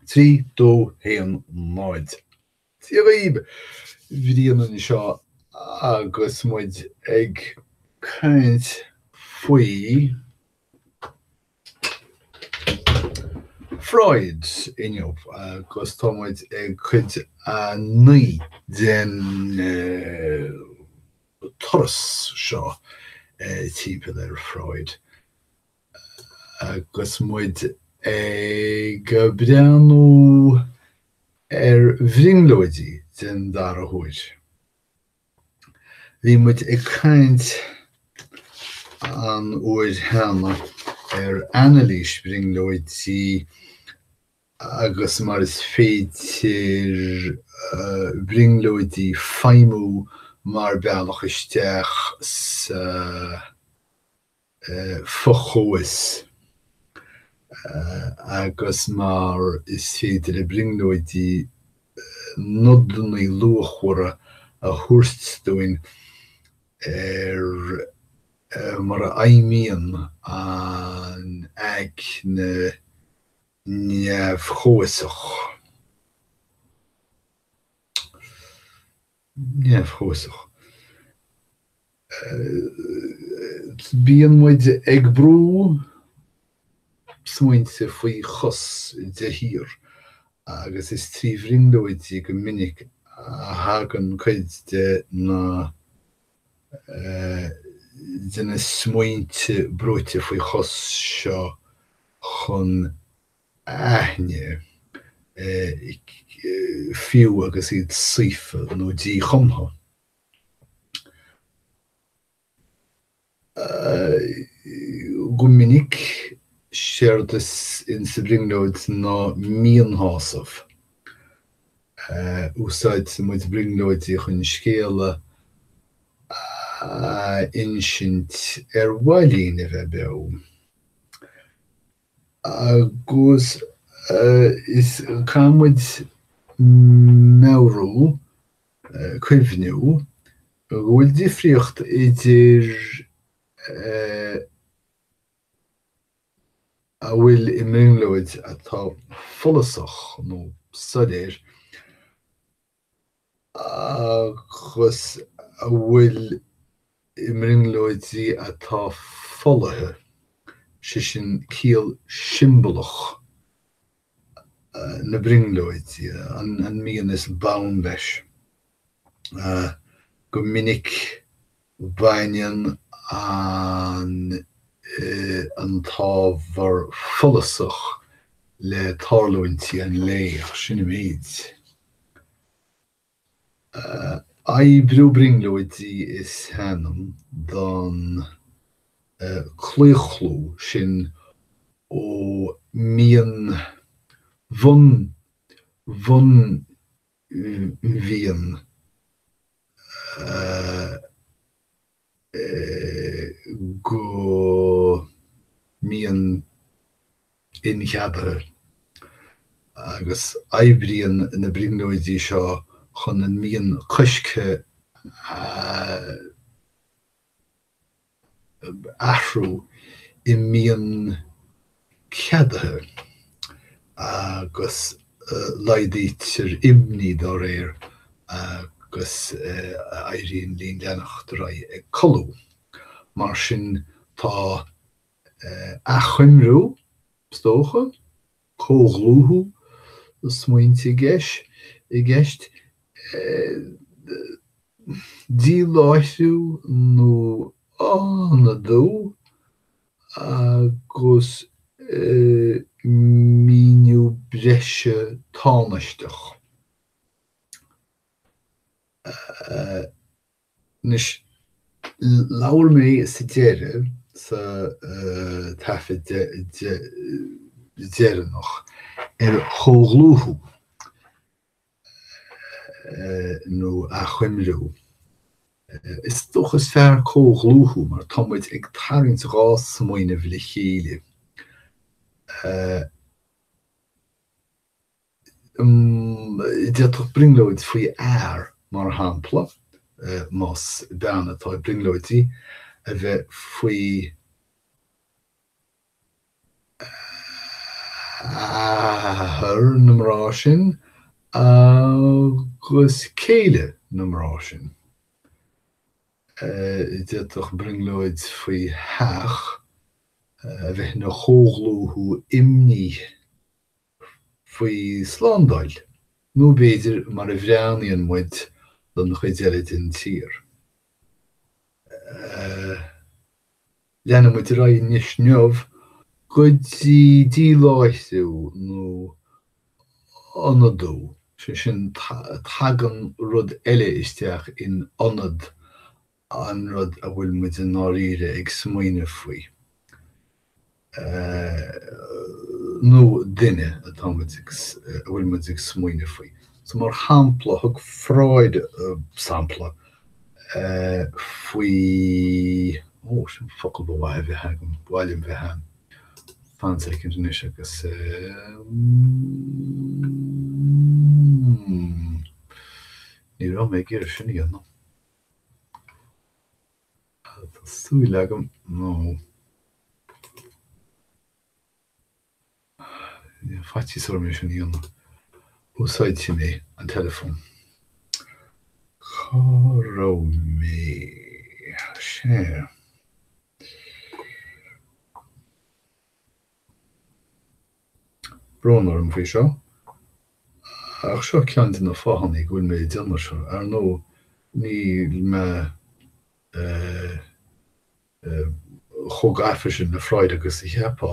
Trí, dó, haon, náid. Dia dhaoibh, Brian anseo agus muid ag caint faoi Freud inniu agus tá muid ag cuid a naoi den turas seo timpeall ar Freud. Agus muid ag breathnú ar bhrionglóidí den dara huair, bhí muid ag caint an uair cheana ar anailís brionglóidí agus mar is féidir brionglóidí feidhmiú mar bealach isteach sa. fo-chomhfhios agus mar is féidir le brionglóidí nodannaí luachmhara a thabhairt dúinn ar mar a fheidhmíonn an aigne neamh-chomhfhiosach. neamh-chomhfhiosach. Bíonn muid ag brú smaointe faoi chos de shíor agus is trí bhrionglóidí go minic a thagann cuid de na, de na smaointe brúite faoi chos seo chun aithne, fiú agus iad saofa nó díchumtha. Go minic, séard is in sa bhrionglóid ná mianshásamh. Úsáideann muid brionglóidí chun scéala a insint ar mhaith linn a bheith beo. Agus is caithfidh muid meabhrú, cuimhniú, go bhfuil difríocht idir a bhfuil i mbrionglóid atá follasach nó soiléir, agus a bhfuil i mbrionglóidí atá folaithe, sé sin ciall siombalach na brionglóide, an mian is bonn leis. Go minic. Baineann an an t-ábhar follasach le tarlúintí an lae, ach sin an méid. Oibriú brionglóidí is ainm don claochlú sin ó mian bhun bhun mhian go mian incheadaithe agus oibríonn na brionglóidí seo chun an mian coiscthe a. athrú i mian ceadaithe agus laghdaítear imní dá réir agus éiríonn linn leanacht ar aghaidh ag codladh. Mar sin tá achoimriú, is dócha, comhdhlúthú smaointe i gceist, díláithriú nó ionadú, agus míniú breise tánaisteach. Anois, labhair mé sa deireadh, sa taifead deireanach, ar chomhdhlúthú, nó achoimriú. Is dócha is fearr comhdhlúthú, mar tá muid ag tarraingt dhá smaoineamh le chéile. D'fhéadfadh brionglóid faoi fhear, mar shampla, más bean atá ag brionglóidí, a bheith faoi athair na mná sin agus céile na mná sin. D'fhéadfadh brionglóid faoi theach a bheith ina chomhdhlúthú imní. faoi slándáil, nó b'fhéidir mar a bhreathnaíonn muid don chuid eile den tír. Leanfaidh muid ar aghaidh anois inniu go dtí díláithriú nó ionadú, sé sin, tagann rud eile isteach in ionad an rud a bhfuil muid i ndáiríre ag smaoineamh faoi, nó duine atá muid ag, a bhfuil muid ag smaoineamh faoi. So mar shampla, thug Freud sampla faoi, ó, sin focal ba mhaith a bheith agam, ba mhaith liom bheith ann, fan soicind anois agus, ní raibh mé ag iarraidh sin a dhéanamh. Tá súil agam, nó faitíos orm é sin a dhéanamh. Úsáidfidh mé an teileafón. Cá raibh mé? Sea. Brón orm faoi seo, ach seo ceann de na fáthanna go bhfuil mé ag déanamh seo. Ar ndóigh, níl mé chomh gafa sin le Freud agus a cheapfá.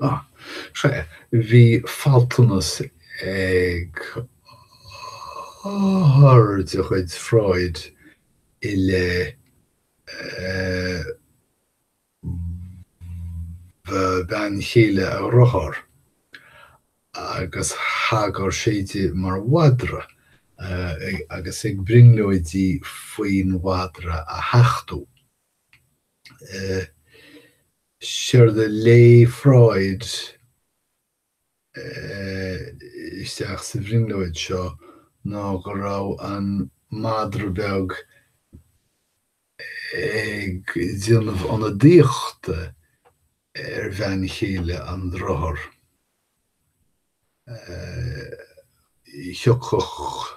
Ah. Sea, bhí faltanas ag othar de chuid Freud i leith bhean chéile a dhriotháir, agus thagair sé di mar mhadra, agus ag brionglóidí faoin mhadra a thachtadh. séard a léigh Freud isteach sa bhrionglóid seo ná go raibh an madra beag ag déanamh ionadaíochta ar bhean chéile an driotháir. Thiocfadh.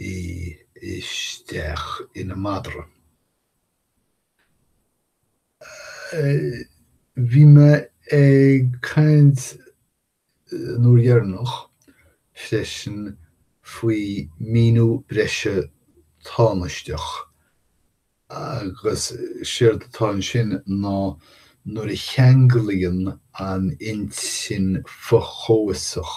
í isteach ina madra. Bhí mé ag caint an uair dheireanach freisin faoi mhíniú breise tánaisteach agus séard atá ansin ná nuair a cheanglaíonn an intinn fho-chomhfhiosach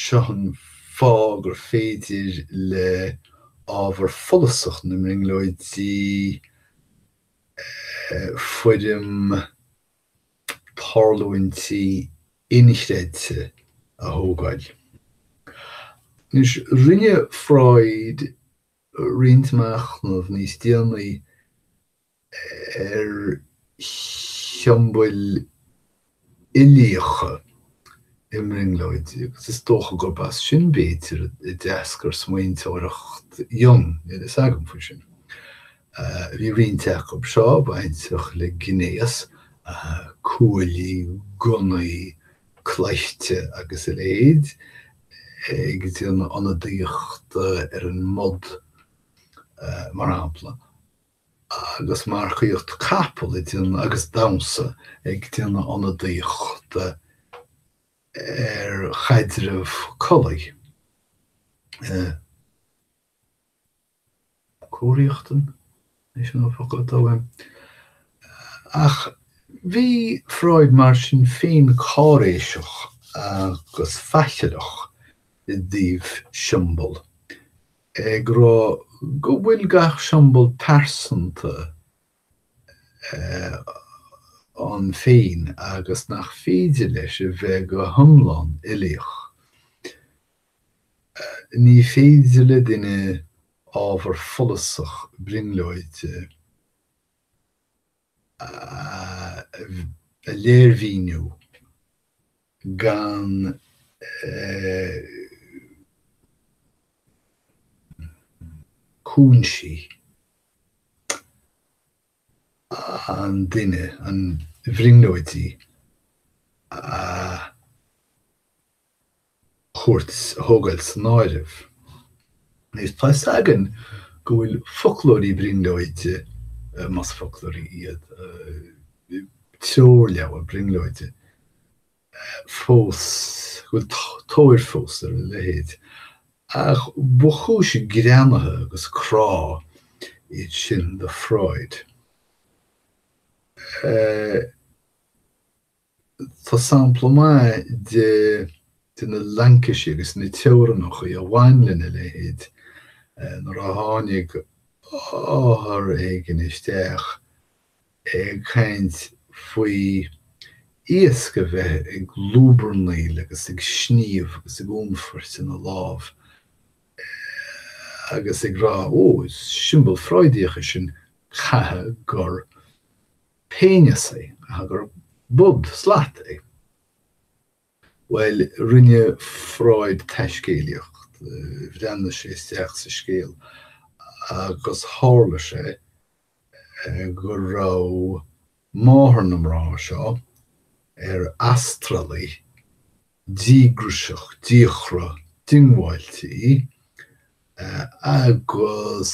Seo an fáth gur féidir le ábhar follasach na mbrionglóidí foirm tarlúintí inchreidte a thógáil. Anois, rinne Freud roinnt machnamh níos déanaí ar shiombail uilíocha i mbrionglóidí agus is dócha gurb as sin, b'fhéidir, a d'eascair smaointeoireacht Jung, níl a fhios agam faoi sin. Bhí roinnt acu seo bainteach le gnéas, cuaillí, gunnaí, cleití agus a leithéid, ag déanamh ionadaíochta ar an mbod, mar shampla. agus marcaíocht capall ag déanamh agus damhsa ag déanamh ionadaíochta ar chaidreamh collaí, comhriachtain? é sin an focal atá uaim? Ach bhí Freud mar sin féin cáiréiseach agus faichilleach i dtaobh siombail ag rá go bhfuil gach siombal pearsanta ann féin agus nach féidir leis a bheith go hiomlán uilíoch. Ní féidir le duine ábhar follasach brionglóide. a léirmhíniú gan cúinsí an duine, an bhrionglóidí, a. chur, a thógáil san áireamh. Is tá fhios agam go bhfuil foclóirí brionglóide, más foclóirí iad, treoirleabhair brionglóide fós, go bhfuil tóir fós ar a leithéid, ach ba chúis greannaithe agus crá iad sin do Freud. Tá sampla maith de de na laincisí agus na teorannacha a bhain lena leithéid, nuair a tháinig othar éigin isteach ag caint faoi iasc a bheith ag lúbarnaíl agus ag sníomh agus ag únfairt ina lámh agus ag rá, 'Ó, is siombail Freudíoch é sin, chaithfeadh gur. péineas é, gur bod, slat, é. Bhuel, rinne Freud taiscéalaíocht, bhreathnaigh sé isteach sa scéal agus tharla sé go raibh máthair na mná seo ar astralaí díograiseach, díochra, diongbháilte í agus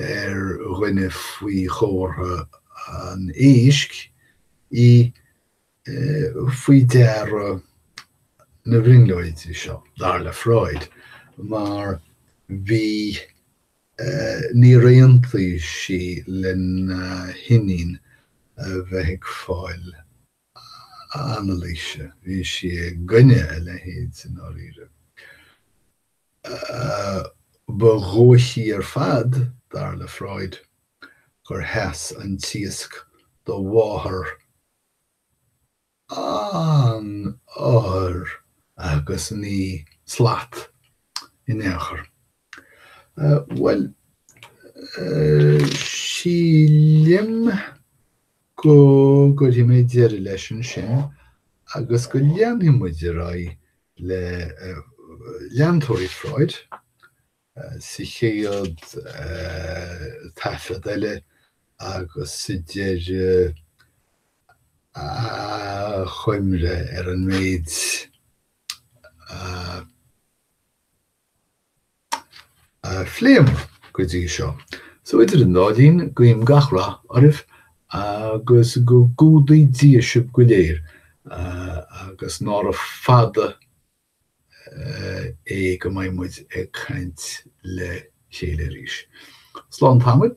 ar dhuine faoi chomhartha an éisc í faoi deara na brionglóidí seo, dar le Freud, mar bhí níor aontaigh sí lena hiníon a bheith ag fáil anailíse. Bhí sí i gcoinne a leithéid, i ndáiríre. Ba dhóichí ar fad, dar le Freud, gur sheas an t-iasc do mháthair an othair agus ní slat in aon chor. Bhuel, sílim go gcuirfidh mé deireadh leis ansin agus go leanfaidh muid ar aghaidh le leantóirí Freud sa chéad taifead eile agus sa deireadh achoimre ar an méid a a phléamar go dtí seo. So, idir an dá linn, guím gach rath oraibh agus go gcumhdaí Dia sibh go léir agus nára fada é go mbeidh muid ag caint le chéile arís. Slán tamaill.